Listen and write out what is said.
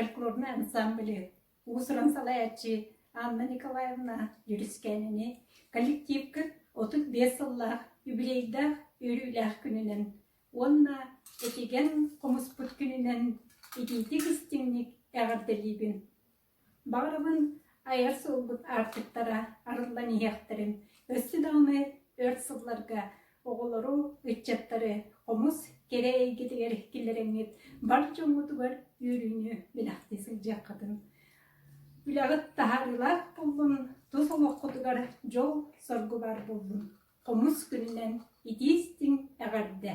фольклорнай ансамблы уусуран салайаччы Анна Николаевна Юрискэнини коллективкыт отут биэс сыллаах юбилейдаах үөрүүлээх күнүнэн Уонна этигэн хомуспут күнүнэн итиитик истиҥник эҕэрдэлиибин. Баҕарабын айар суолбут аартыктара арыллан иһиэхтэрин өссө даҕаны өр сылларга оҕолору, ыччаттары хомус кэрэ эйгэтигэр киллэрэҥҥит бар дьоҥҥутугар үөрүүнү бэлэхтии сылдьыаххытын. Үлэҕит таһаарыылаах буоллун, тус олоххутугар дьол-соргу баар буоллун. Хомус күнүнэн итии-истиҥ эҕэрдэ!